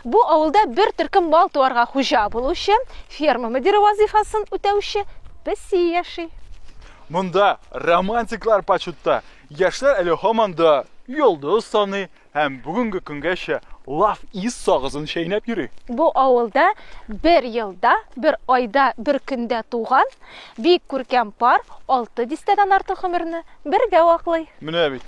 Бу авылда бер төркем мал туарга хуҗа булучы, ферма мөдире вазифасын үтәүче песи яши. Монда романтиклар почетта. Яшьләр әле һаман да йолдыз саны һәм бүгенге көнгәчә лав ис сагызын чәйнәп йөри. Бу авылда бер елда, бер айда, бер көндә туган бик күркәм пар алты дистәдән артык гомерне Бергә ваклый. Менә бит.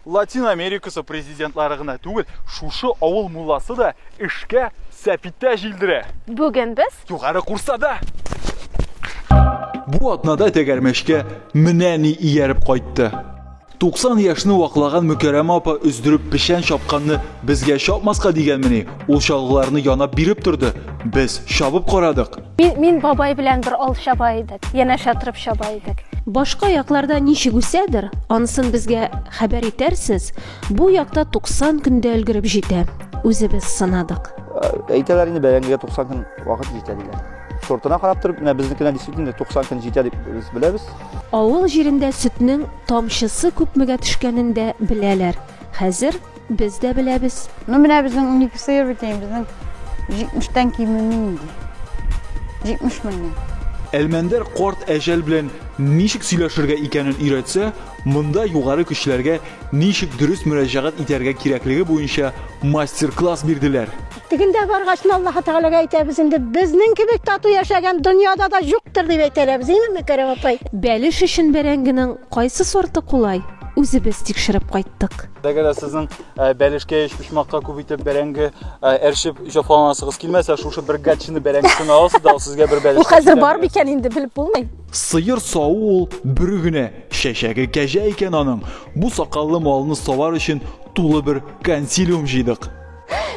Латин Америкасы президентлары гына түгел, шушы авыл мулласы да эшкә сәпитә җилдерә. Бүген без. Югары Курсада! Бу атнада тәгәрмәчкә менә ни ияреп кайтты. 90 яшьне ваклаган Мөкәрәмә апа өздереп печән чапканны безгә чапмаска дигәнмени? Ул чалгыларны янап биреп торды. Без чабып карадык. Мин, мин бабай белән бер ал чаба идек. Янәшә торып чаба идек. Башка якларда ничек үсәдер, анысын безгә хәбәр итәрсез. Бу якта 90 көндә өлгереп җитә. Үзебез сынадык. Ә, әйтәләр инде бәрәңгегә 90 көн вакыт җитә диләр. Сортына карап торып, менә безнекенә действительно 90 көн җитә дип без беләбез. Авыл җирендә сөтнең тамчысы күпмегә төшкәнен дә беләләр. Хәзер без дә беләбез. Ну менә безнең унике сыер бит инде, безнең җитмештән кимеми инде. Җитмеш меңнән. Әлмәндәр карт әҗәл белән ничек сөйләшергә икәнен өйрәтсә, монда югары көчләргә ничек дөрес мөрәҗәгать итәргә кирәклеге буенча мастер-класс бирделәр. Тегендә баргач, Аллаһы Тәгаләгә әйтәбез инде, безнең кебек тату яшәгән дөньяда да юктыр дип әйтәләбез, инеме, Кәрим апай? Бәлеш өчен бәрәңгенең кайсы сорты кулай, үзебез тикшереп кайттык. Әгәр дә сезнең э, бәлешкә, өчпочмакка күп итеп бәрәңге э, әрчеп җафаланасыгыз килмәсә, шушы бер гатчины бәрәңгесен аласыз да, сезгә бер бәлеш. Бу хәзер бар бикән инде белеп булмый. Сыер саву ул бер генә чәчәге кәҗә икән аның. Бу сакаллы малны савар өчен тулы бер консилиум җыйдык.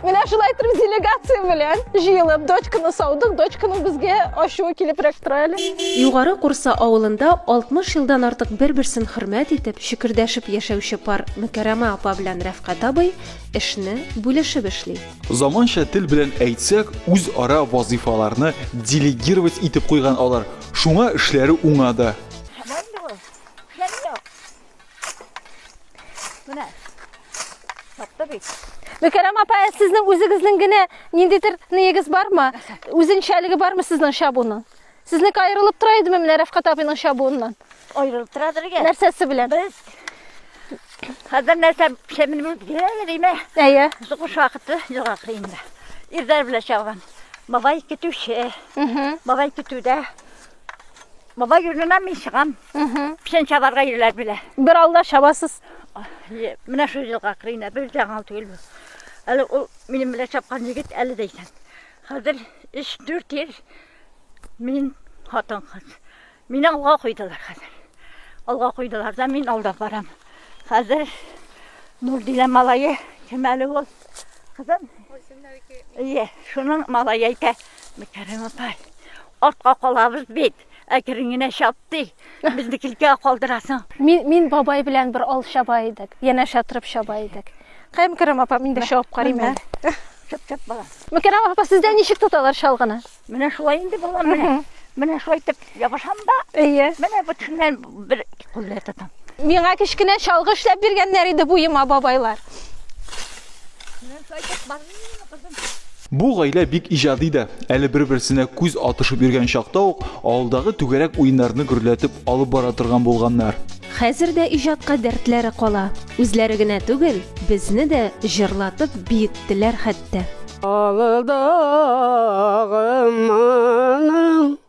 Менә шулай итеп делегация белән җыелып дочканы саудык, дочканы безгә ачуы килеп рәктирәле. Югары Курса авылында 60 елдан артык бер-берсен хөрмәт итеп, шөкердәшеп яшәүче пар Мөкәрәмә апа белән Рәфкать абый эшне бүлешеп эшли. Заманча тел белән әйтсәк, үзара вазыйфаларны делегировать итеп куйган алар. Шуңа эшләре уңа да. Менә. Тапты бит. Мөкәррәм апа, ә сезнең үзегезнең генә ниндидер ниегез бармы? Үзенчәлеге бармы сезнең чабуның? Сезнеке аерылып тора идеме менә Рәфкат абыйның чабуыннан? Аерылып тора дөргә. Нәрсәсе белән? Без хәзер нәрсә шәмилмән геләле димә. Әйе. Зугыш вакыты җыраклы инде. Ирдәр белән чабам. Бабай көтүче. Бабай көтүдә Бабай юлына мин чыгам. Печән чабарга ирләр белә. Бер алда чабасыз. Менә шул елга кырыена бер яңа түгел бу. Әле ул минем белән чапкан егет әле дә исән. Хәзер 3-4 ел мин хатын кыз. Мине алга куйдылар хәзер. Алга куйдылар да мин алда барам. Хәзер Нурдилә малае кем әле ул? Кызым? Ие, шуның малае әйтә. Мөкәррәм апай, артка калабыз бит. Әкрен генә чап ди. Безне килкә калдырасың. Мин, мин бабай белән бер ал чаба идек. Янәшә торып чаба идек. Кая Мөкәррәм апа, мин дә чабып карыйм әле. Чап, чап, балам. Мөкәррәм апа, сездә ничек тоталар чалгыны? Менә шулай инде, балам, менә. Менә шулай итеп. Ябышам да. Әйе. Менә бүтәннән бер куллы тотам. Миңа кечкенә чалгы эшләп биргәннәр иде буема бабайлар. Менә сайтып бармыймы, кызым? Бу гаилә бик иҗади да. Әле бер-берсенә күз атышып йөргән чакта ук авылдагы түгәрәк уеннарны гөрләтеп алып бара торган булганнар. Хәзер дә иҗатка дәртләре кала. Үзләре генә түгел, безне дә җырлатып биеттеләр хәтта. Авылдагым моның.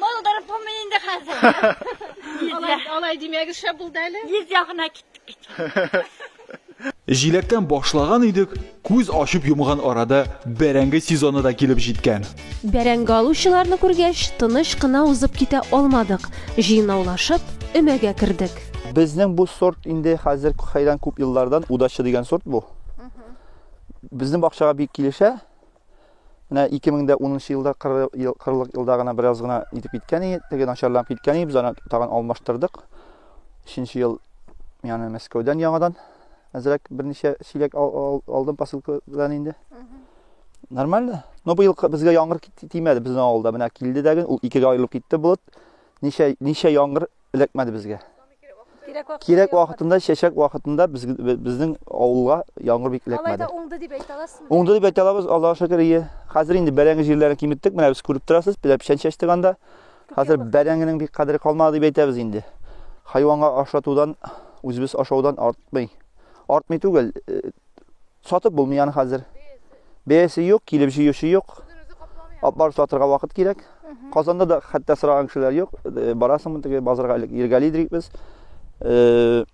Булдырып булмый инде хәзер. Алай, алай димәгез шәп булды әле. Йөз ягына киттек бит. Җиләктән башлаган идек, күз ачып йомган арада бәрәңге сезоны да килеп җиткән. Бәрәңге алучыларны күргәч, тыныч кына узып китә алмадык. Җыйнаулашып, өмәгә кердек. Безнең бу сорт инде хәзер кайдан күп еллардан удача дигән сорт бу. Безнең бакчага бик килешә. Менә 2010 елда 40 ел, 40 елда гына бераз гына итеп киткән иде, теге начарланып киткән иде, без аны тагын алмаштырдык. 3 ел яны Мәскәүдән яңадан әзрәк берничә чиләк алдым посылкадан инде. Нормально. Но быел безгә яңгыр тимәде безнең авылда. Менә килде дә ул икегә аерылып китте болыт. Ничә ничә яңгыр эләкмәде безгә. Кирәк вакытында, чәчәк вакытында без, безнең авылга яңгыр бик эләкмәде. Алайда уңды дип әйтә аласызмы? Уңды дип әйтә алабыз, Аллаһ шөкер, ие. Хәзер инде бәрәңге җирләрен киметтек, менә без күреп торасыз, бер печән чәчтек анда. Хәзер бәрәңгенең бик кадере калмады дип әйтәбез инде. Хайванга ашатудан, үзебез ашаудан артмый. Артмый түгел, э, Сатып булмый аны хәзер. Бәясе юк, килеп җыючы юк. Апар сатырга вакыт кирәк. Казанда да хәтта сораган кешеләр юк. Э, барасыңмы теге базарга элек Иргали дидек без. Э,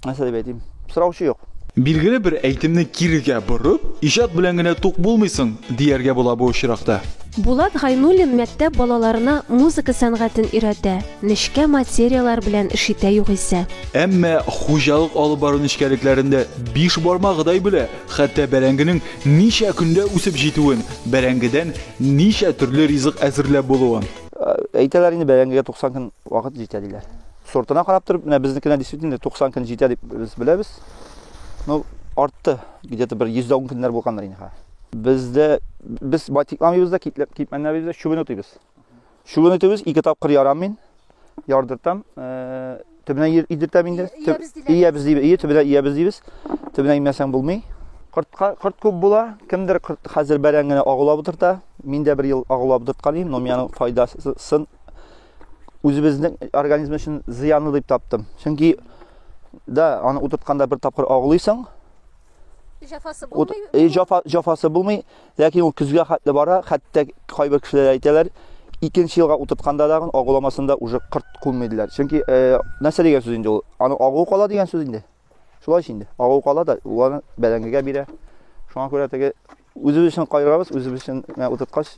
нәрсә дип әйтим? Сораучы юк. Билгеле бер әйтемне кирегә борып, иҗат белән генә тук булмыйсың, дияргә була бу очракта. Булат Гайнуллин мәктәп балаларына музыка сәнгатен өйрәтә, нечкә материалар белән эш итә югыйсә. Әмма хуҗалык алып бару нечкәлекләрендә биш бармагыдай белә, хәтта бәрәңгенең ничә көндә үсеп җитүен, бәрәңгедән ничә төрле ризык әзерләп булуын. Әйтәләр инде, бәрәңгегә 90 көн вакыт җитә, диләр. Сортына карап торып, менә безнекенә действительно 90 көн җитә дип без беләбез. Ну, артты, где-то бер 110 көннәр булгандыр инде хәзер. Бездә без байтикламыйбыз да, китмәнләмибез дә, чүбен утыйбыз. Чүген үтүбез ике тапкыр ярам мин. Ярдыртам. Э, төбенә идертәм инде. Иябез дибез. Ие төбенә иябез дибез. Төбенә имәсәң булмый. Кортка корт күп була. Кемдер корт хәзер бәрән генә агулап утырта. Мин дә бер ел агулап утырткан идем, но миянең файдасын үзебезнең организм өчен зыянлы дип таптым. Чөнки да аны утыртканда бер тапкыр агулыйсың. Җафасы булмый. Җафасы булмый. Ләкин ул көзгә хәтле бара, хәтта кайбер кешеләр әйтәләр, икенче елга утыртканда тагын агуламасында уже кырт кунмый диләр. Чөнки нәрсә дигән сүз инде ул? Аның агуы кала дигән сүз инде. Шулай инде. Агуы кала да уларны бәрәңгегә бирә. Шуңа күрә теге үзебез өчен кайгырабыз, үзебез өчен утырткач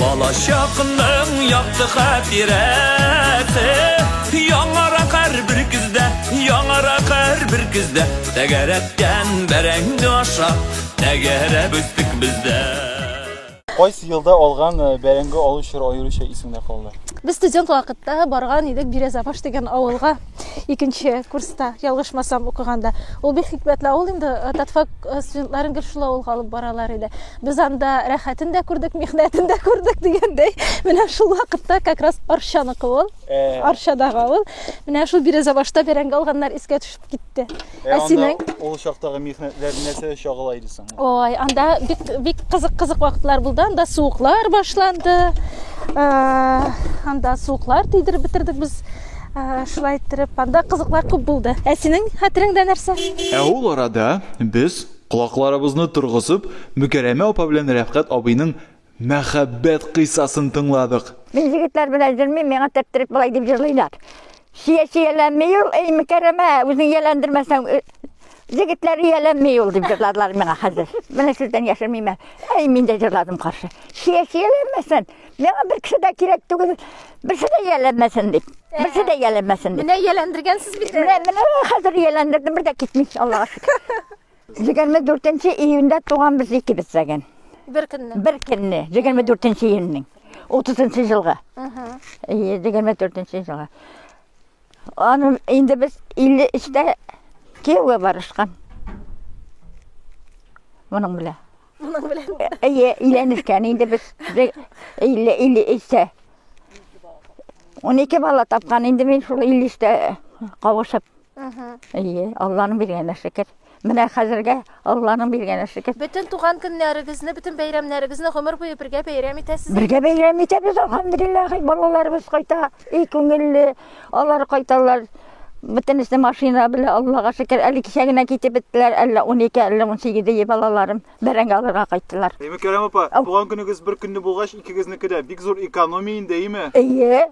Балачакның якты хатирәсе Яңарак һәрбер көздә, яңарак һәрбер көздә Тәгәрәткән бәрәңге аша, тәгәрәп үстек бездә Кайсы елда алган э, бәрәңге алу чоры аеруча исеңдә калды? Без студент вакытта барган идек Бирәзабаш дигән авылга икенче курста, ялгышмасам, укыганда. Ул бик хикмәтле авыл инде, э, татфак э, студентларын гел шул авылга алып баралар иде. Без анда рәхәтен дә күрдек, михнәтен дә күрдек дигәндәй, менә шул вакытта как раз Арчаныкы ул, э. Арчадагы авыл. Менә шул Бирезабашта бәрәңге алганнар искә төшеп китте. Э, ә синең ул чактагы михнәтләр нәрсә чагыла иде соң? Ой, анда бик бик кызык-кызык вакытлар булды. Анда суыклар башланды. Э, анда суыклар тидереп бетердек без. Э, шулай иттереп, анда кызыклар күп булды. Ә синең хәтереңдә нәрсә? Ә ул арада без Колакларыбызны торгызып, Мөкәрәмә апа белән Рәфкать абыйның мәхәббәт кыйссасын тыңладык. Мин егетләр белән җырмыйм, миңа тәптерек болай дип җырлыйлар. Чия-чияләнми ул, эй, Мөкәрәмә, үзең ияләндермәсәң, җегетләр ияләнми ул, дип җырладылар миңа хәзер. Менә сездән яшермим әле. Әй, мин дә җырладым каршы. Чия-чияләнмәсен! Миңа бер кеше дә кирәк түгел, берсе дә ияләмәсен дип. Берсе дә ияләмәсен дип. Менә ияләндергәнсез бит. Менә менә хәзер ияләндердем, бер дә китми, Аллага шөкер. 24 июньдә туган без икебез дәген. Бер көнне. Бер көнне, 24 июньнең. 30 елга. 24 елга. Аны инде без 53-тә кияүгә барышкан. Моның белән. Моның белән. Әйе, өйләнешкән инде без. 50-53-тә. 12 бала тапкан инде мин шул 53-тә кавышып. Әйе, Алланың биргәненә шөкер. Менә хәзергә Алланың биргәне шөкер. Бөтен туган көннәрегезне, бөтен бәйрәмнәрегезне гомер буе бергә бәйрәм итәсез. Бергә бәйрәм итәбез, алхамдулиллах, балаларыбыз кайта, и күңелле, алар кайталар. Бөтенесе машина белән, Аллага шөкер, әле кичә генә китеп беттеләр, әллә 12, әллә 18 ие балаларым бәрәңге алырга кайттылар. Әйме Кәрәм апа, туган көнегез бер көнне булгач, икегезнеке дә бик зур экономия инде, әйме? Әйе.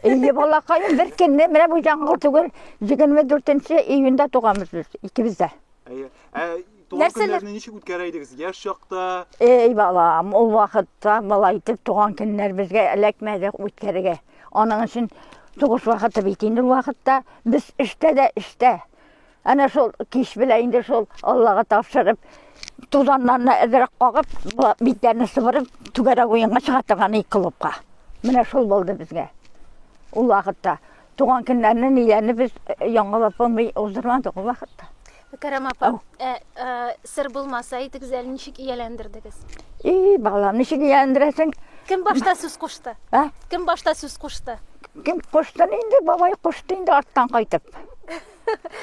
Әйе, балакаем, бер көнне, менә бу яңгыр түгел, 24 июньдә туганбыз без, икебез дә. Әйе. Ә Туган Нәрсәләр? көннәрне ничек үткәрә идегез? Яшь чакта Эй, балам, ул вакытта былай итеп туган көннәр безгә эләкмәде үткәрергә. Аның өчен сугыш вакыты бит инде ул вакытта без эштә дә эштә. Әнә шул кич белә инде шул Аллага тапшырып, тузаннарны әзрәк кагып, бу- битләрне сыбырып, түгәрәк уенга чыга торган ик клубка. Менә шул булды безгә. Ул вакытта Туган көннәрне ниләрне без яңалап булмый уздырмадык ул вакытта. Мөкәррәм апа, ә, ә, сер булмаса әйтегез әле ничек ияләндердегез? И, балам, ничек ияләндерәсең? Кем башта сүз кушты? Ә? Кем башта сүз кушты? Кем кушты инде, бабай кушты инде арттан кайтып.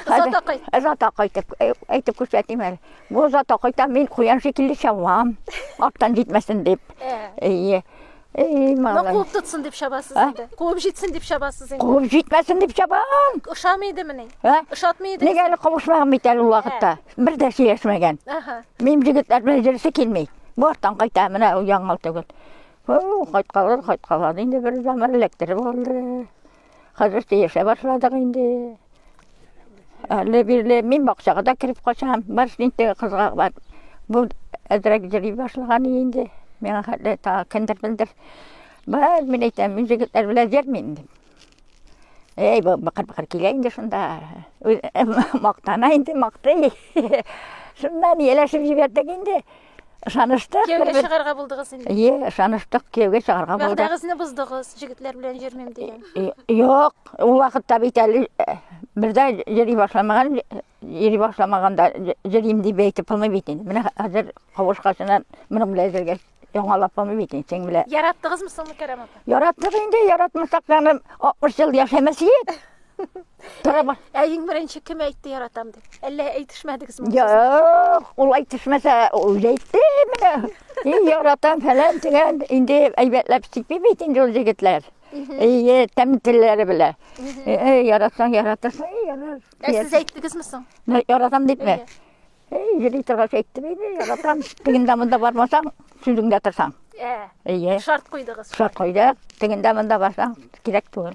Зата кайт. Зата кайтып, әйтеп күрсәтим әле. Бу зата кайта мин куян шикелле чавам, арттан җитмәсен дип. Әйе. Эй, Мә малай. куып тотсын дип чабасыз Ә? инде. Куып җитсен дип чабасыз инде. Куып җитмәсен дип чабам. Ошамый идемени? Ә? Ошатмый идегез? Нигә әле кавышмаган бит әле ул вакытта. Бер дә сөйләшмәгән. Аха. Минем җегетләр белән җырысы килми. Бортан кайта, менә ул яңал түгел. О, кайткалар, кайткалар. Инде бер заман эләктереп алды. Хәзер тиешә башладык инде. Әле бирле мин бакчага да кереп качам. Бар инде кызга бар. Бу әзрәк җыри башлаган инде. Миңа хәтле та кендер белдер. Бар мин әйтәм, мин җегетләр белән җырмыйм дип. Эй, бу бакыр бакыр килә инде шунда. Мактана инде, мактый. Шуннан елашып җибәрдек инде. Ышаныштык. Кияүгә бер-бер- чыгарга булдыгыз инде. Ие, ышаныштык, кияүгә чыгарга булдык. Вәгъдәгезне боздыгыз, җегетләр белән йөрмим дигән. И- Юк, ул вакытта бит әле э, бер дә йөри башламаган, э, йөри башламаганда җ- йөрим дип әйтеп булмый бит инде. Менә хә- хәзер кавышкачына моның белән йөргәч, яңалап булмый бит инде синең белән. Яраттыгызмы соңгы Кәрәм апа? Яраттык инде, яратмасак, аны 60 ел яшәмәс идек. Барамар. Ә иң беренче кем әйтте яратам дип? Әллә әйтешмәдегез ме? Юк, ул әйтешмәсә, ул әйтте менә. Ин яратам фәлән дигән, инде әйбәтләп сипи бит инде ул егетләр. Әйе, тәм телләре белә. Әй, яратсаң, яратасың, әй, ярар. Ә сез әйттегезме соң? Мә, Яратам дип мә. Әй, йөри торгач әйттем инде, яратам. Тегендә монда бармасаң, сүзеңдә торсаң. Ә, Әйе, шарт куйдыгыз. шарт куйдык. Тегендә монда барсаң, кирәк түгел.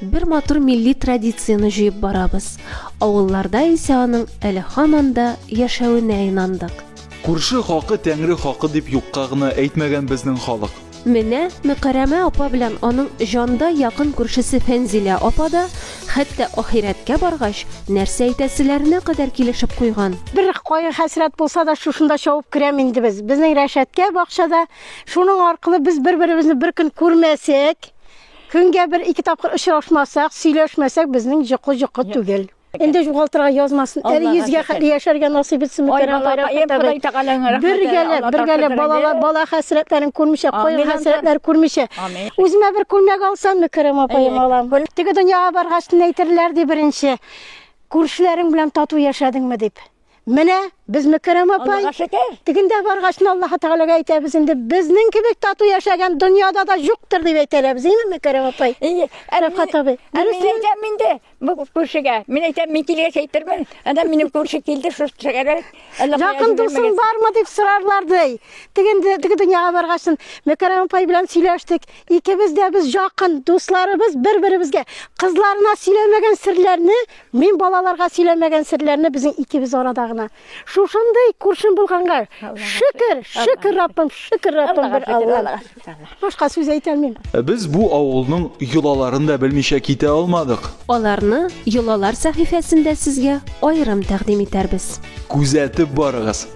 Бер матур милли традицияне җыеп барабыз. Авылларда исә аның әле һаман да яшәвенә инандык. Күрше хакы Тәңре хакы дип юкка гына әйтмәгән безнең халык. Менә Мөкәрәмә апа белән аның җанда якын күршесе Фәнзилә апа да, хәтта ахирәткә баргач, нәрсә әйтәселәренә кадәр килешеп куйган. Бер кайгы-хәсрәт булса да, шушында чабып керәм инде без. Безнең рәшәткә бакчада. Шуның аркылы без бер-беребезне бер көн күрмәсәк. Көнгә бер ике тапкыр очрашмасак, сөйләшмәсәк, безнең җокы җокы түгел. Инде югалтырга язмасын. Әле йөзгә хәтле яшәргә насыйп итсен Мөкәррәм Гайрәт. Бергәләп, бергәләп балалар, бала хәсрәтләрен күрмичә, кайгы хәсрәтләр күрмичә. Үземә бер күлмәк алсам, Мөкәррәм апаем, алам. Теге дөньяга баргач, нәйтерләр ди беренче, күршеләрең белән тату яшәдеңме дип. Менә без Мөкәррәм апай тегендә баргач, Аллаһ Тәгаләгә әйтәбез инде, безнең кебек тату яшәгән дөньяда да юктыр дип әйтәләр без, әйеме Мөкәррәм апай? Әйе. Рәфкат абый. Мин әйтәм инде бу күршегә. Мин әйтәм, мин килгәч әйтермен. Анда минем күрше килде, шул шәгәрәк. Якын дусың бармы дип сорарлар ди. Тегендә теге дөньяга баргач, Мөкәррәм апай белән сөйләштек. Икебез дә без якын, дусларыбыз бер-беребезгә. Кызларына сөйләмәгән серләрне Мин балаларга сөйләмәгән серләрне безнең икебез арада гына. Шушындый күршем булганга шөкер, шөкер Раббым, шөкер Раббым бер Алла. Башка сүз әйтәлмим. Без бу авылның йолаларын да белмичә китә алмадык. Аларны йолалар сәхифәсендә сезгә аерым тәкъдим итәрбез. Күзәтеп барыгыз.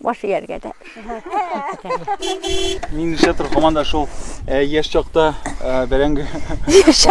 Баш ияргә дә. Мин шәтер команда шул э, яшь чакта э, бәрәңге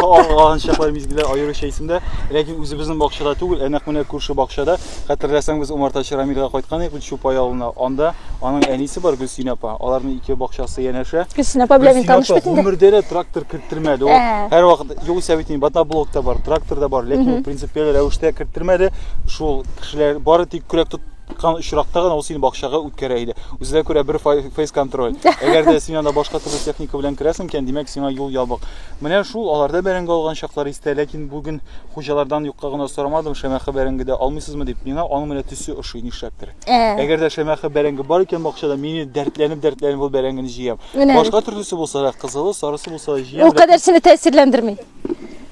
алган чаклар мизгелләр аеруча исемдә. Ләкин үзебезнең бакчада түгел, ә нәкъ менә күрше бакчада. Хәтерләсәң, без умартачы Рамилгә кайткан идек Чупай авылына. Анда аның әнисе бар Гөлсин апа. Аларның ике бакчасы янәшә. Гөлсин апа белән мин таныш бит инде. Гомердә дә трактор керттермәде. Ул ә. һәр вакыт югыйсә бит батаблок та бар, трактор да бар, ләкин принципиаль рәвештә керттермәде. Шул кешеләр бары тик көрәк тот тоткан очракта гына ул сине бакчага үткәрә иде. Үзенә күрә бер фейс контроль. Әгәр дә син анда башка төрле техника белән керәсең икән, димәк сиңа юл ябык. Менә шул аларда бәрәңге алган чаклар истә, ләкин бүген хуҗалардан юкка гына сорамадым, шәмәхә бәрәңге дә алмыйсызмы дип. Миңа аның менә төсе ошый нишләптер. Ә. Әгәр дә шәмәхә бәрәңге бар икән бакчада, мин дәртләнеп-дәртләнеп ул бәрәңгене җыям. Башка төрлесе булса да, кызылы, сарысы булса да җыям. Ул кадәр сине тәэсирләндерми.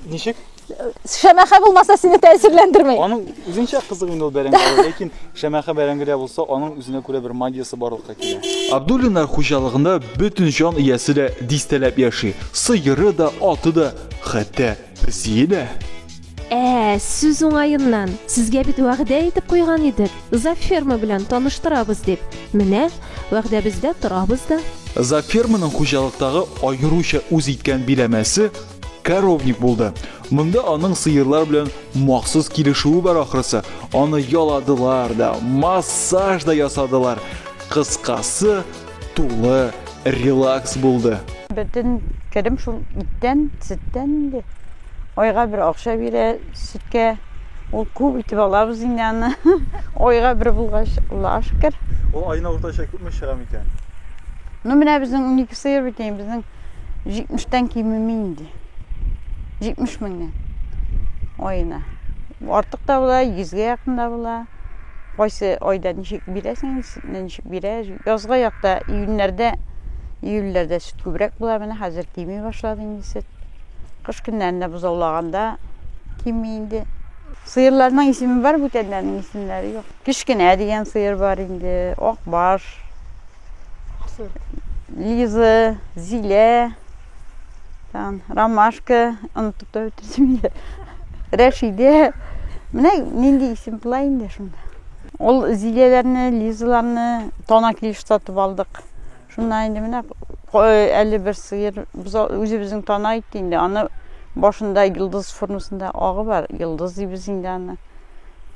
Ничек? Шәмәхә булмаса сине тәэсирләндерми. Аның үзенчә кызык инде ул бәрәңге, ләкин шәмәхә бәрәңгедә булса, аның үзенә күрә бер магиясе барлыкка килә. Абдуллиннар хуҗалыгында бөтен җан иясе дә дистәләп яши. Сыеры да, аты да, хәтта песие дә. Ә, сүз уңаеннан, сезгә бит вәгъдә итеп куйган идек, зоферма белән таныштырабыз дип. Менә, вәгъдәбездә торабыз да. Зоферманың хуҗалыктагы аеруча үз иткән биләмәсе, Коровник булды. Монда аның сыерлар белән махсус килешүе бар ахрысы. Аны яладылар да, массаж да ясадылар. Кыскасы, тулы релакс булды. Бөтен керем шул иттән, сөттән инде. Айга бер акча бирә сөткә. Ул күп итеп алабыз инде аны. Айга бер булгач, Аллага шөкер. Ул айына уртача күпме чыга микән? Ну менә безнең уникесе бит, безнең 70-тән кимеми инде. 70 меңнән аена. Артык та була, 100-гә якын да була. Кайсы айда ничек бирәсең, ничек бирә. Язга якта июньләрдә, июльләрдә сөт күбрәк була, менә хәзер кими башлады инде сөт. Кыш көннәрендә бозаулаганда кими инде. Сыерларның исеме бар, бүтәннәрнең исемләре юк. Кечкенә дигән сыер бар инде, акбаш, Лиза, Зилә, там, Ромашка, онытып та бетерсем инде. Рәшидә. Менә нинди исем була инде шунда. Ул Зиләләрне, Лизаларны тана килеш сатып алдык. Шунда инде менә әле бер сыер үзебезнең тана итте инде. Аны башында йолдыз формасында агы бар. Йолдыз дибез инде аны.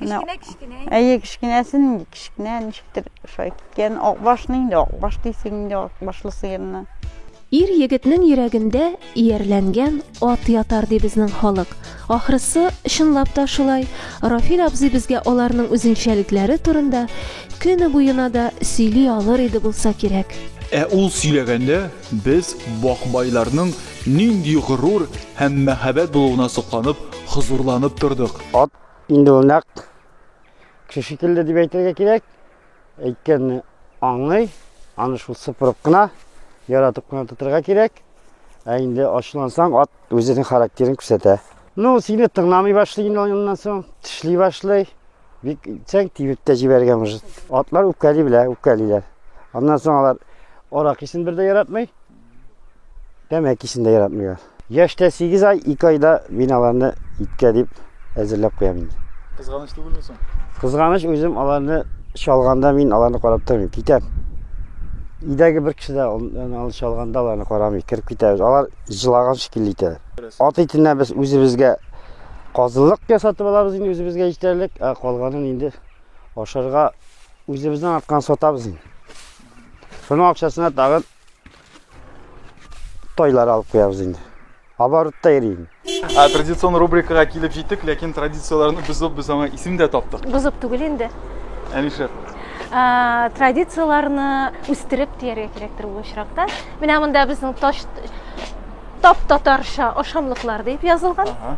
Кечкенә кечкенә. Әйе, кечкенәсе нинди кечкенә, ничектер шулай киткән. Акбашны инде акбаш дисең инде акбашлы сыерны. Ир егетнең йөрәгендә иярләнгән ат ятар ди безнең халык. Ахрысы, чынлап та шулай. Рафил абзый безгә аларның үзенчәлекләре турында көне буена да сөйли алыр иде булса кирәк. Ә ул сөйләгәндә, Без, бакбайларның нинди горур һәм мәһабәт булуына сокланып, хозурланып тордык. Ат инде ул нәкъ кеше шикелле дип әйтергә кирәк. Әйткәнне аңлый, аны шул сыпырып кына, яратып кына тотырга кирәк. Ә инде ачулансаң, ат үзенең характерын күрсәтә. Ну, сине тыңламый башлый инде аннан соң, тешли башлый. Бик чәң тибеп тә җибәргән уже. Атлар үпкәли белә, үпкәлиләр. Аннан соң алар арак исен бер дә яратмый, тәмәк исен дә яратмыйлар. Яшьтә 8 ай, 2 айда мин аларны иткә дип әзерләп куям инде. Кызганыч түгелме соң? Кызганыч үзем аларны чалганда мин аларны карап тормыйм, китәм. Идәге бер кеше дә аны чалганда аларны карамый, кереп китәбез. Алар җылаган шикелле итәләр. Ат итенә без үзебезгә Казылык ясатып алабыз инде үзебезгә җитәрлек, ә калганын инде ашарга үзебезнең арткан сатабыз инде. Шуның акчасына тагын тойлар алып куябыз инде. Оборотта йөри инде. Ә традицион рубрикага килеп җиттек, ләкин традицияләрне бозып без аңа исем дә таптык. Бозып түгел инде. Ә нишләп? Ә, традицияләрне үстереп дияргә кирәктер бу очракта. Менә монда безнең таш Тап-татарча ашамлыклар дип язылган. Ага.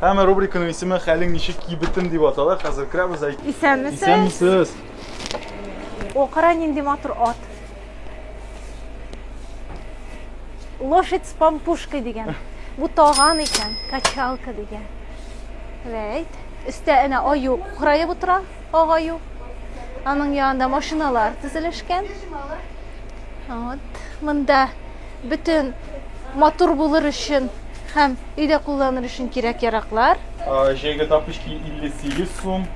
Һәм рубриканың исеме Хәлең ничек кибетем дип атала. Хәзер керәбез әйт. Исәнмесез. Исәнмесез. О, кара нинди матур ат. Лошадь с пампушкой дигән. Бу таган икән, качалка дигән. Вәйт. Өстә әнә аю кураеп утыра, агаю. Аның янында машиналар тезелешкән. Вот. Монда Бөтен матур булыр өчен һәм өйдә кулланыр өчен кирәк-яраклар. Җәйге тапочки 58 сум,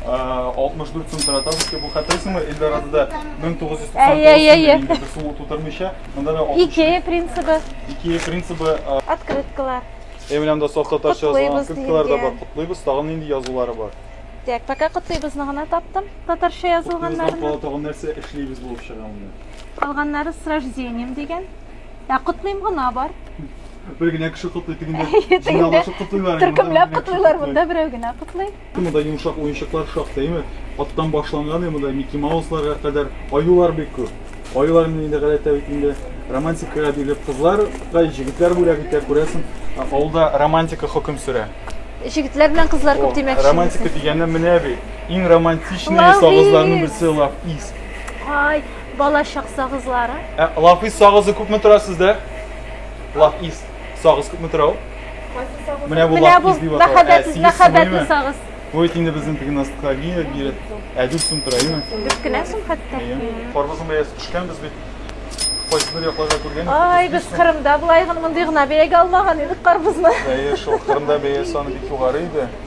64 сум тора тапочки. Бу хәтерлисеңме, Эльдорадода 1999 сумда инде бер сумлык тутырмыйча. Монда да 60. Икея принцибы. Икея принцибы. Открыткалар. Ә менә монда саф татарча язылган открыткалар да бар. Котлыйбыз, тагын нинди язулары бар? Так, пока котлыйбызны гына таптым, татарча язылганнарны. Котлыйбыздан кала тагын нәрсә эшлибез булып чыга монда? Калганнары с рождением дигән. Ә котлыйм гына бар. Бер генә кеше котлый тегендә. Җыйналышып котлыйлар. Төркемләп котлыйлар монда берәү генә котлый. Монда йомшак уенчыклар шактыймы? Аттан башланган монда Микки Маусларга кадәр аюлар бик күп. Аюлар менә инде гадәттә бит инде романтикага бирелеп кызларга җегетләр бүләк итә, күрәсең. Авылда романтика хөкем сөрә. Җегетләр белән кызлар күп димәк. Романтика дигәннән менә бит. Иң романтичный савызларның берсе лав ис. Ай, балачак сагызлары. Ә лафис сагызы күпме тора сездә? Лафис сагыз күпме тора ул? Менә бу лафис дип атала. Мәхәббәтле, мәхәббәтле сагыз. Бу бит инде безнең теге ностальгия бирә. Ә дүрт сум тора, әйеме? Дүрт кенә сум хәтта. Карбызның бәясе төшкән без бит. Кайсы бер якларда күргән. Ай, без Кырымда былай гына мондый гына бәягә алмаган идек карбызны. Әйе, шул Кырымда бәя саны бик югары иде.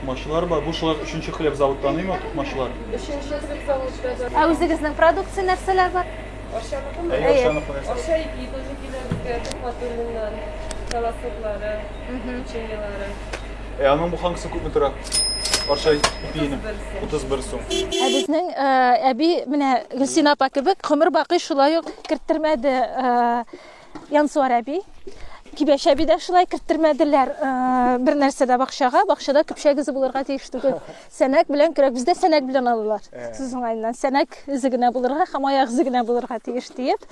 Тукмачылар бар. Бу шулай өченче хлеб завод таныймы тукмачылар? Өченче хлеб завод да бар. Ә үзегезнең продукция нәрсәләр бар? Ашамыкмы? Әйе, Әйе. ашамыкмы нәрсә? Аша ипи тоже килә безгә Тукматуллиннан. Колосоклары, печеньелары. Ә аның бу хангысы күпме тора? Арча ипиенең 31 сум. Ә безнең э, әби менә Гөлсина апа кебек гомер бакый шулай ук керттермәде э, Янсуар әби, Кибәш әби дә шулай керттермәделәр э, бер нәрсә дә бакчага. Бакчада көпшәк эзе булырга тиеш түгел. Сәнәк белән көрәк. Бездә сәнәк белән алалар. Э. Сүз уңаеннан сәнәк эзе генә булырга һәм аяк эзе генә булырга тиеш диеп.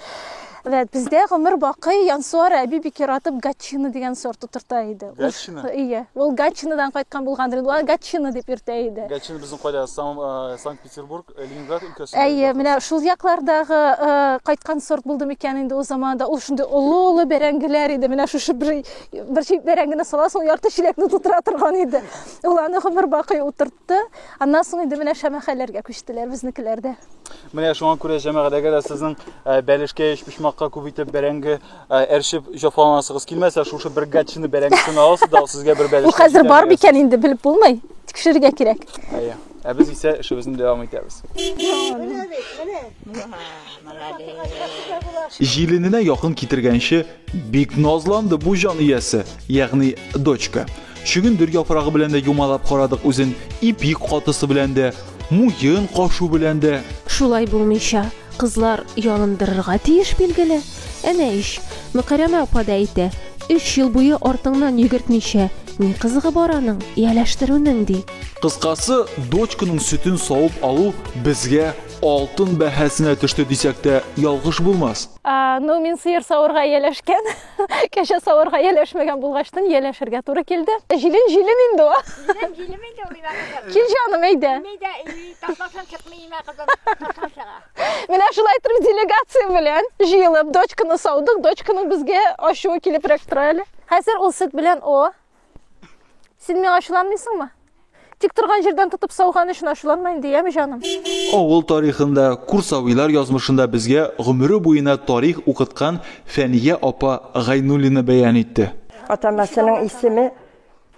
Вәт бездә гомер бакый Янсуар әби бик яратып гатчина дигән сорт утырта иде. Гатчина? Ие. Ул гатчинадан кайткан булгандыр. Ул гатчина дип йөртә иде. Гатчина безнең кайда? Э, Санкт Петербург, э, Ленинград өлкәсендә. Әйе, менә шул яклардагы э, кайткан сорт булды микән инде ул заманда. Ул шундый олы-олы бәрәңгеләр иде. Менә шушы бер бер чит бәрәңгене сала, сол ярты чиләкне тутыра торган иде. Ул аны гомер бакый утыртты. Аннан соң инде менә шәмәхәләргә күчтеләр безнекеләрдә. Менә шуңа күрә җәмәгадәге дә сезнең э, бәлешкә, өчпочмакка күп итеп бәрәңге Әрчеп җафаланасыгыз килмәсә, шушы бер гатчины бәрәңгесен аласыз да, сезгә бер бәлеш. Бу хәзер бар микән инде белеп булмый. Тикшерергә кирәк. Әйе. Ә без исә эшебезне дәвам итәбез. Җилененә якын китергәнче, бик назланды бу җан иясе, ягъни дочка. Чөгендер яфрагы белән дә юмалап карадык үзен, ипик катысы белән дә, муен кашу белән дә. Шулай булмыйча, кызлар ялындырырга тиеш, билгеле. Әнә ич, Мөкәрәмә апа да әйтә, өч ел буе артыңнан йөгертмичә, ни кызыгы бар аның, ияләштерүнең, ди. Кыскасы, дочканың сөтен савып алу безгә алтын бәһасенә төште дисәк тә ялгыш булмас. Ну, мин сыер саварга ияләшкән. Кәшә савырга яләшмәгән булгачтын, яләшергә туры килде. Җилен җилен инде ул. Җилен җилен инде ул имә кызым. Кил җаным, әйдә. Имә дә, ташласаң чыкмый имә кызым. Ташлан чыга. Менә шулай итеп делегация белән җыелып дочканы саудык. Дочканың безгә ачуы килеп рәк тора әле. Хәзер ул сөт белән о, Син миңа ачуланмыйсыңмы? Тик торган җирдән тотып сауган өчен ачуланма инде, яме җаным. Авыл тарихында, Курсавилар язмышында безгә гомере буена тарих укыткан Фәния апа Гайнуллина бәян итте. Атамасының исеме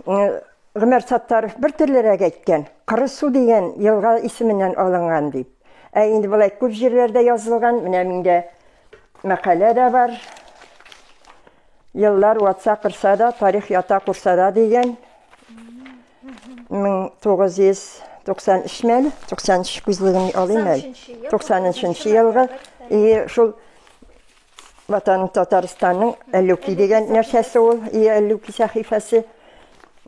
Гомәр Саттаров бер төрлерәк әйткән, Кыры су дигән елга исеменнән алынган дип. Ә инде болай күп җирләрдә язылган, менә миндә мәкалә дә бар. Еллар ватса кырса да, тарих ята курсада дигән 1993 мәл, 93 күзлегем алыйм әле. 93 елгы и шул ватаным Татарстанның Әллүки дигән нәрсәсе ул, и Әллүки сәхифәсе.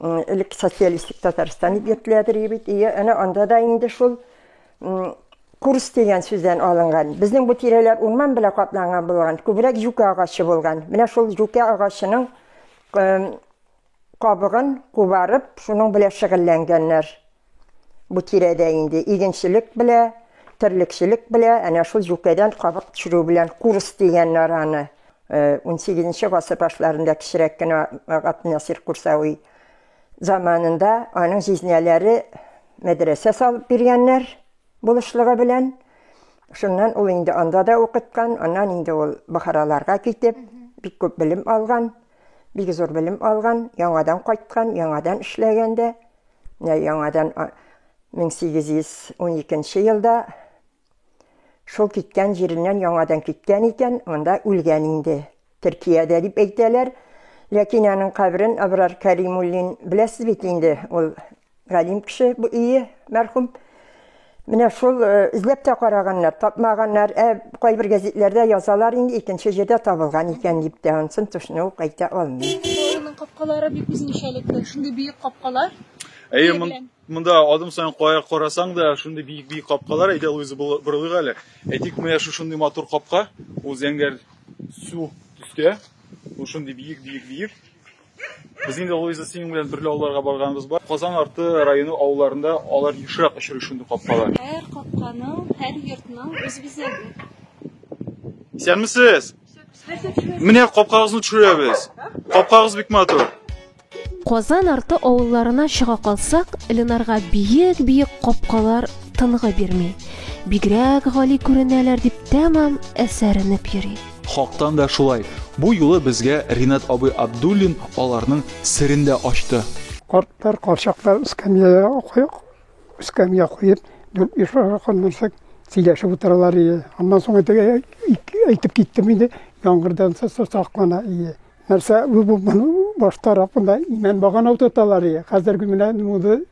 Элек социалистик Татарстан дип йөртеләдер бит. И әнә анда да инде шул Курс дигән сүздән алынган. Безнең бу тирәләр урман белән капланган булган. Күбрәк җүкә агачы булган. Менә шул җүкә агачының кабыгын кубарып, шуның белән шөгыльләнгәннәр. Бу тирәдә инде игенчелек белән, терлекчелек белән, әнә шул җүкәдән кабык төшерү белән курс дигәннәр аны. 18 нче гасыр башларында кечерәк кенә Габдинасир Курсавый Заманында аның җизнәләре мәдрәсә салып биргәннәр булышлыгы белән. Шуннан ул инде анда да укыткан, аннан инде ул Бохараларга китеп, бик күп белем алган, бик зур белем алган, яңадан кайткан, яңадан эшләгән дә. Менә яңадан 1812 елда Шул киткән җиреннән яңадан киткән икән, монда үлгән инде. Төркиядә дип әйтәләр. Ләкин аның каберен Абрар Кәримуллин, беләсез бит инде, ул галим кеше бу ие, мәрхүм. Менә шул э, эзләп тә караганнар, тапмаганнар. Ә кайбер гәзитләрдә язалар инде икенче җирдә табылган икән дип тә, ансын тошны ук әйтә алмыйм. Аның капкалары бик үзенчәлекле, шундый биек капкалар. Әйе, Монда адым саен кая карасаң да шундый биек-биек капкалар, әйдә Луиза борылыйк әле. Әйтик, менә шушындый матур капка, ул зәңгәр су төстә, ул шундый биек-биек-биек. Без инде Луиза синең белән берле авылларга барганыбыз бар. Казан арты районы авылларында алар ешрак очрый шундый капкалар. Һәр капканың, һәр йортның үз бизәге. Исәнмесез! Менә капкагызны төшерәбез. Капкагыз бик матур. Казан арты авылларына чыга калсак, Ленарга биек-биек капкалар тынгы бирми. Бигрәк гали күренәләр, дип тәмам әсәренеп йөри. Хактан да шулай. Бу юлы безгә Ринат абый Абдуллин аларның серен дә ачты. Картлар, карчаклар эскәмиягә куеп, эскәмия куеп, дүрт-биш аракы нәрсә сөйләшеп утыралар иде. Аннан соң әйтеп киттем инде, яңгырдан саклана иде. Нәрсә бу бу моны баш тарафында имән багана утырталар ие. Хәзерге менә моды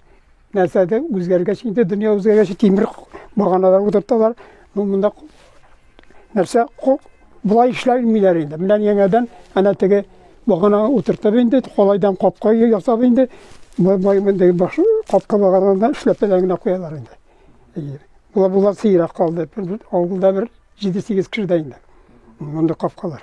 нәрсәдә үзгәргәч инде дөнья үзгәргәч тимер баганалар утырталар. Ну монда нәрсә кул болай эшләмиләр инде. Менә яңадан әнә теге багана утыртып инде колайдан капка ясап инде бай мондай баш капка багананы эшләп генә куялар инде. Була була сыйрак калды. Авылда бер 7-8 кеше дә инде. Монда капкалар.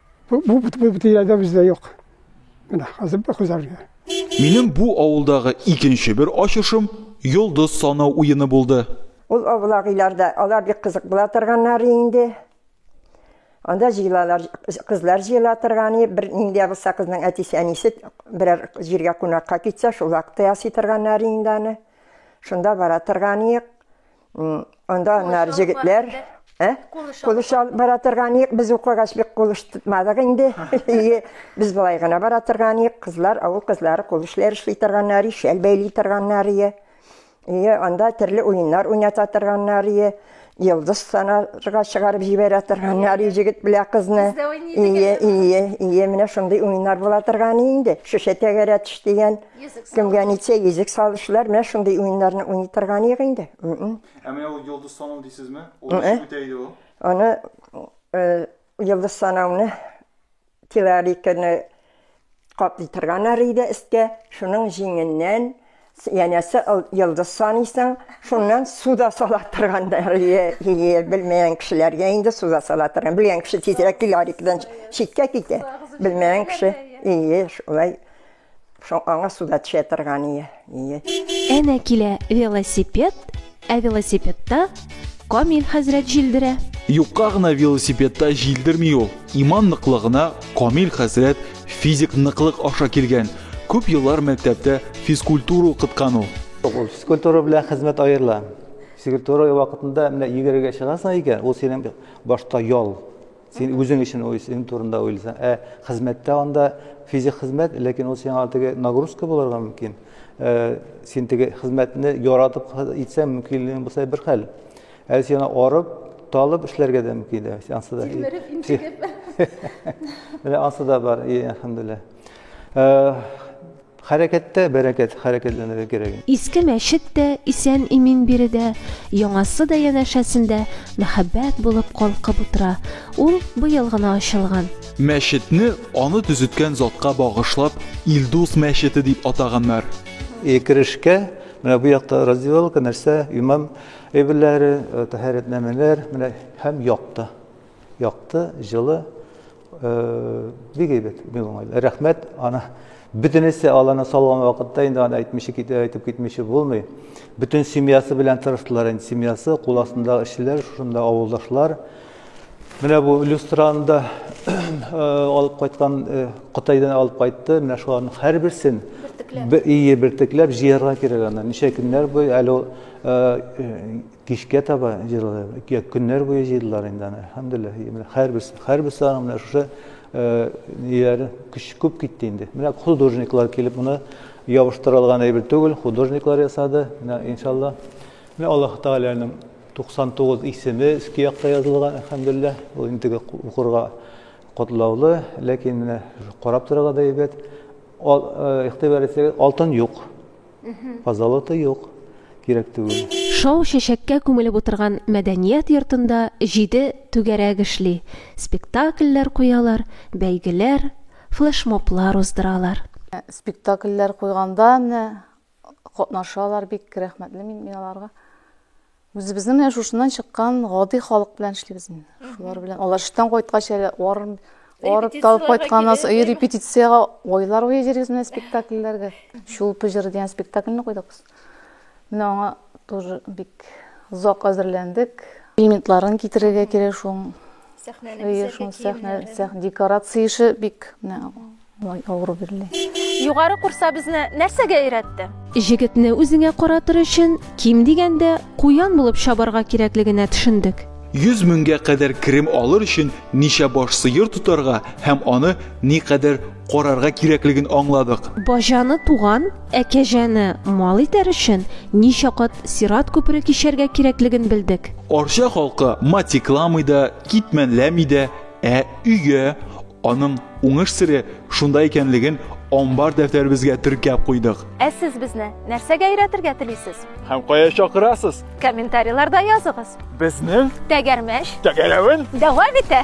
Бу бу бу бу тирәдә бездә юк. Менә хәзер бу хәзергә. Минем бу авылдагы икенче бер ачышым йолдыз санау уены булды. Ул авлагыйларда алар бик кызык була торганнар инде. Анда җыелалар, кызлар җыела торган и бер нинди булса кызның әтисе әнисе берәр җиргә кунакка китсә, шул вакытта ясый торганнар инде аны. Шунда бара торган иек. Анда нәр җегетләр, ә? Кулыш алып бара торган ек, без укыгач бик кулыш тотмадык инде. Ие, без былай гына бара торган ек, кызлар, авыл кызлары кулышлар эшли торганнар, шәл бәйли торганнар ие. Ие, анда төрле уеннар уйната торганнар ие. Йылдыз санарга чыгарып җибәрә торганнар ие җегет белән кызны. Ие, ие, ие, менә шундый уеннар була торган инде. Шешә тәгәрәтеш дигән. Кемгә нитсә йөзек салышлар, менә шундый уеннарны уйный торган юк инде. Ә менә ул йолдыз санау дисезме? Ул ничек үтә иде ул? Аны йолдыз санауны теориканы каплый торганнар иде өсткә, шуның җиңеннән янәсе йолдыз саныйсың, шуннан суда сала торганнар иде. Белмәгән кешеләргә инде суда сала торган. Белгән кеше тизрәк теорикадан читкә китә. Белмәгән кеше, ие, шулай. Шо аңа суда төшә торган ие. Ие. Әнә килә велосипед, ә велосипедта Камил хәзрәт җилдерә. Юкка гына велосипедта җилдерми ул. Иман ныклыгына Камил хәзрәт физик ныклык аша килгән. Күп еллар мәктәптә физкультура укыткан ул. Физкультура белән хезмәт аерыла. Физкультура вакытында менә йөгерергә чыгасың икән, ул синең башта ял. Син үзең өчен уйлыйсың, турында уйлыйсың. Ә хезмәттә анда физик хезмәт, ләкин ул сиңа теге нагрузка булырга мөмкин. Э, син теге хезмәтне яратып итсәң, мөмкинлегең булса бер хәл. Ә син арып, талып эшләргә дә мөмкин дә. Ансы да. Тилмереп, интегеп. Менә ансы да бар, и, әлхәмдүлилләһ. Э, Хәрәкәттә бәрәкәт, хәрәкәтләнергә кирәк инде. Иске мәчет тә исән-имин биредә, яңасы да янәшәсендә мәхәббәт булып калкып утыра, ул быел гына ачылган. Мәчетне аны төзеткән затка багышлап Илдус мәчете дип атаганнар. И керешкә, менә бу якта раздевалка, нәрсә, имам әйберләре, тәһарәтнамәләр, менә һәм як та. Якты, җылы, бик әйбәт, бик уңайлы. Рәхмәт, аны бөтенесе аланы салган вакытта инде аны әйтмичә китә, әйтеп китмичә булмый. Бөтен семьясы белән тырыштылар инде, семьясы, кул астындагы эшчеләр, шушында авылдашлар. Менә бу люстраны да алып кайткан, Кытайдан алып кайтты. Менә шуларның һәрберсен бертекләп, ие, бертекләп җыярга кирәк аны. Ничә көннәр буе әле Кичкә таба җыйдылар. Көннәр буе җыйдылар инде аны. Әлхәмдүлилләһ. Менә һәрберсе, һәрберсе аның менә шушы ниләре көч күп китте инде. Менә художниклар килеп моны ябыштырылган әйбер түгел, художниклар ясады. Менә иншалла. Менә Аллаһ Тәгаләнең 99 исеме өске якта язылган, әлхәмдүлилләһ. Ул инде укырга котлаулы, ләкин менә карап торырга да әйбәт. Игътибар итсәгез, алтын юк. Позолота юк, кирәк түгел. Шау чәчәккә күмелеп утырган мәдәният йортында җиде түгәрәк эшли, спектакльләр куялар, бәйгеләр, флешмоблар уздыралар. Спектакльләр куйганда менә катнашалар, бик рәхмәтле мин аларга. Үзебезнең менә шушыннан чыккан гади халык белән эшлибез инде. Шулар белән алар эштән кайткач әле арым арып талып кайтканнан соң и репетициягә айлар буе йөрибез менә спектакльләргә. Чулпы җыры дигән спектакльне куйдык без. Менә аңа тоже бик озак әзерләндек. Элементларын китерергә кирәк шуның. Сәхнәне бизәргә кирәк. Сәхнә, сәхнә декорация эше бик менә Май авыру бирле. Югары курса безне нәрсәгә өйрәтте? Җегетне үзеңә каратыр өчен, ким дигәндә, куян булып чабарга кирәклегенә төшендек. Йөз меңгә кадәр керем алыр өчен ничә баш сыер тотарга һәм аны никадәр карарга кирәклеген аңладык. Баҗаны туган, ә кәҗәне мал итәр өчен ничә кат сират күпере кичәргә кирәклеген белдек. Арча халкы матикламый да, китмәнләми дә, ә өя. Аның уңыш сере шунда икәнлеген амбар дәфтәребезгә теркәп куйдык. Ә сез безне нәрсәгә өйрәтергә телисез? Һәм кая чакырасыз? Комментарийларда языгыз. Безнең Тәгәрмәч тәгәрәвен дәвам итә!